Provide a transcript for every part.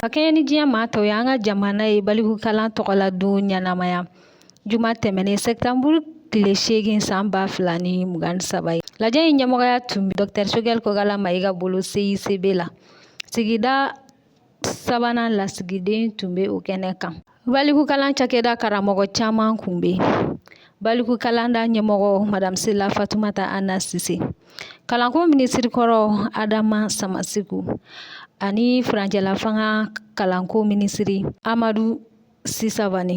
Ka kɛɲɛ ni diɲɛ maa tɔw ye an ka jamana ye balikukalan tɔgɔla don ɲɛnamaya juma tɛmɛnen sɛtanburu tile seegin san ba fila ni mugan ni saba ye lajɛ in ɲɛmɔgɔya tun bɛ dɔkitɛr Choguel kokala mayiga bolo CICB la sigida sabanan lasigiden tun bɛ o kɛnɛ kan Balikukalan cakɛda karamɔgɔ caman kun bɛ yen balikukalanda ɲɛmɔgɔ madame Sila Fatumata Hama Sise kalanko minisiri kɔrɔ Adama Samaseku ani furancɛlafanga kalanko minisiri Amadu Si Savane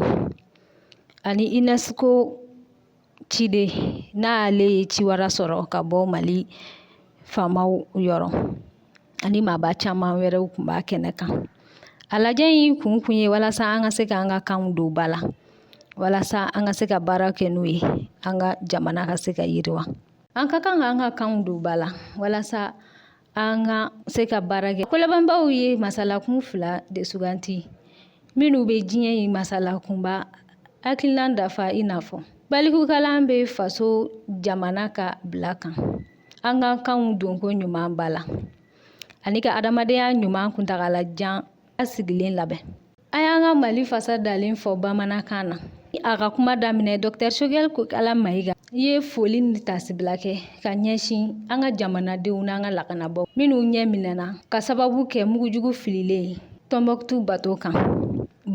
ani UNESCO ciden n'ale ye ciwara sɔrɔ ka bɔ mali faamaw yɔrɔ ani maaba caman wɛrɛw tun b'a kɛnɛ kan a lajɛ in kun kun ye walasa an ka se ka an ka kanw don ba la walasa an ka se ka baara kɛ n'u ye an ka jamana ka se ka yiriwa an ka kan ka an ka kanw don ba la walasa An ka se ka baara kɛ kolabɛnbaw ye masalakun fila de suganti minnu bɛ diɲɛ in masalakunba hakilina dafa i n'a fɔ balikukalan bɛ faso jamana ka bila kan an ka kanw donko ɲuman ba la ani ka adamadenya ɲuman kuntagala jan basigilen labɛn A y'an ka Mali fasa dalen fɔ bamanankan na. A ka kuma daminɛ Doctor Choguel Kokala Mayiga ye foli ni tasibila kɛ ka ɲɛsin an ka jamanadenw n'an ka lakanabaaw minnu ni minɛna ka sababu kɛ mugujugu fililen ye Tɔnbukutu bato kan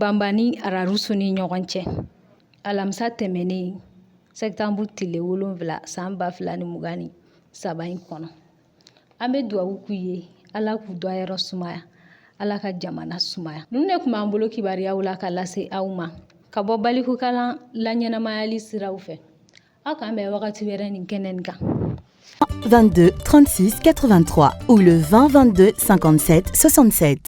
Banba ni Ararusu ni ɲɔgɔn cɛ alamisa tɛmɛnen sɛtanburu tile wolonfila san ba fila ni mugan ni saba in kɔnɔ. an bɛ dugawu k'u ye ala k'u dayɔrɔ sumaya ala ka jamana sumaya ninnu de tun b'an bolo kibaruyaw la ka lase aw ma ka bɔ balikukalan laɲɛnamayali siraw fɛ aw k'an bɛn wagati wɛrɛ nin kɛnɛ nin kan 22 36 83 ou le 20 22 57 67